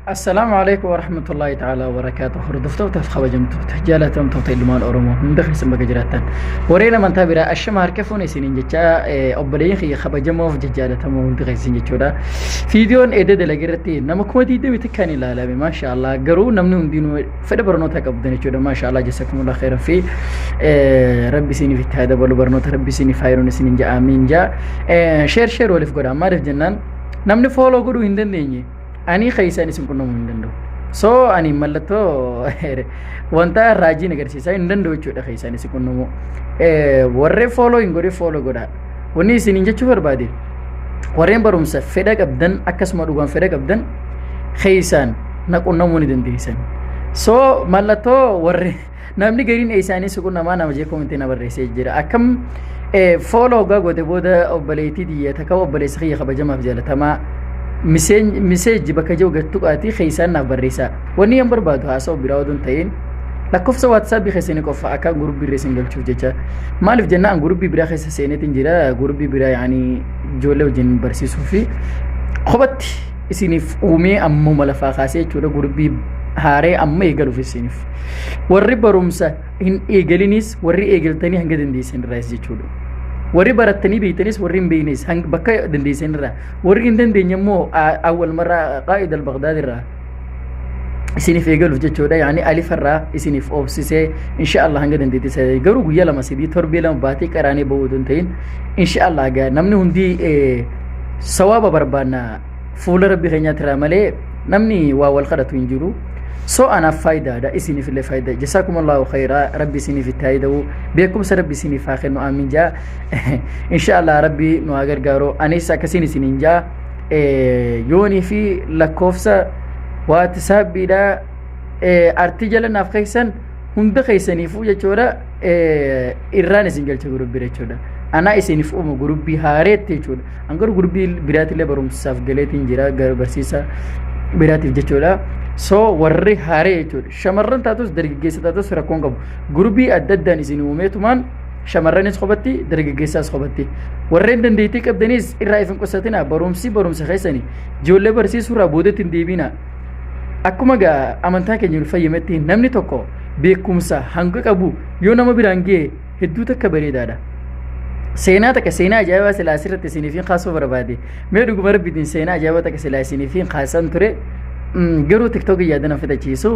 Assalaamu alaikum warahmatullahi ta'ala wabarakaatu hordoftootaf kabajamtoota jaalatamtoota ilmaan oromoo hunda keessan baga jiraattan wareen amantaa biraa ashama harka fuun isiniin jecha obboleeyyin kiyya kabajamoof jajaalatamoo hundi keessan jechuudha fiidiyoon edda dalage irratti nama kuma diidami takkaan ilaalame maasha allah garuu namni hundinuu fedha barnoota qabdan jechuudha maasha allah jasakumullah khairan fi rabbi isiniif itti haa dabalu barnoota rabbi isiniif haa hiruun isiniin ja'a amiin ja'a sheer sheer waliif godha maaliif jennaan namni fooloo godhuu hin dandeenye anii keessaan isin qunnamuu hin danda'u soo ani mallattoo wanta raajiin agarsiisaa hin danda'u jechuudha keessaan isin qunnamuu warreen fooloo hin godhe fooloo godhaa wanni isin hin jechuu barbaade warreen barumsa fedha qabdan akkasuma dhugaan fedha qabdan keessaan na qunnamuu ni dandeessan soo mallattoo warreen Namni gariin eessaanii suquu namaa nama jee komentii na barreessee jira. Akkam fooloo hoggaa goote booda obboleettii tiyya takka obboleessa kiyya kabajamaaf jaalatamaa miseejji bakka jiru gad tuqaatii keessaan naaf barreessaa. Wanni hin barbaadu haasa'u biraa odoo hin ta'in lakkoofsa waatsaapii keessanii qofa akka gurubbii irra isin galchuuf jecha. Maaliif jennaan gurubbii biraa keessa seeneetiin jira gurubbii biraa yaanii ijoollee wajjin barsiisuu fi kophatti isiniif uumee ammuma lafaa kaasee jechuudha gurubbii haaree amma eegaluuf isiniif. Warri barumsa hin eegalinis warri eegaltanii hanga dandeessan irraas jechuudha. Warri barattanii beektanis warri hin beeknes hang- bakka dandeessan irraa warri hin dandeenye immoo a- awwal marraa qaa'id al-Baghdad irraa isiniif eegaluuf jechuudha yaani alifarraa isiniif oobsisee inshaallah hanga dandeetti isa garuu guyyaa lama sadii torbee lama baatee qaraanee ba'uu utuu hin ta'in inshaallah gaa namni hundi eh, sawaaba barbaanna fuula rabbi keenyaatti irraa malee namni waa wal kadhatu hin jiru so anaaf faayidaadha isiniif illee faayidaa jasaakumallaahu khayraa rabbi isiniif itti haa ida'u beekumsa rabbi isiniif haa kennu aamin jaa inshaallah rabbi nu haa gargaaru anis akkasiin isiniin jaa yoonii fi lakkoofsa waatisaappiidha artii jala naaf keessan hunda keessaniifuu jechuudha irraan isin galcha gurubbira jechuudha. Anaa isiniif uumu gurubbii haareetti jechuudha. An garuu gurubbii biraatillee barumsaaf galeetiin jira barsiisa biraatiif jechuudha. So warri haaree jechuudha. Shamarran taatus dargaggeessa taatus rakkoon qabu. Gurubbii adda addaan isin uumeetumaan shamarranis qofatti dargaggeessaas qofatti. Warreen dandeettii qabdanis irraa ifin qusatina barumsi barumsa keessanii ijoollee barsiisuurraa boodatti hin deebiina. Akkuma amantaa keenya fayyadametti namni tokko beekumsa hanga qabu yoo nama biraan ga'e hedduu takka bareedaadha. Seenaa takka seenaa ajaa'ibaa silaa asirratti isiniif kaasuu barbaade mee dhuguma rabbiitiin seenaa ajaa'ibaa takka silaa isiniif kaasan ture garuu tiktookii yaada na fixachiisu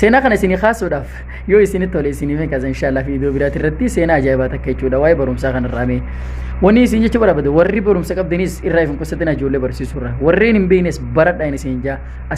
seenaa kana isinii kaasuudhaaf yoo isinitti tole isiniif kaasa inshaallah viidiyoo biraati irratti seenaa ajaa'ibaa takka jechuudha waa'ee barumsaa kanarraa mee wanni isin jechuu barbaade warri barumsa qabdanis irraa ifin qusatina ijoollee barsiisuurra warreen hin beeknes baradhaa hin isin jaa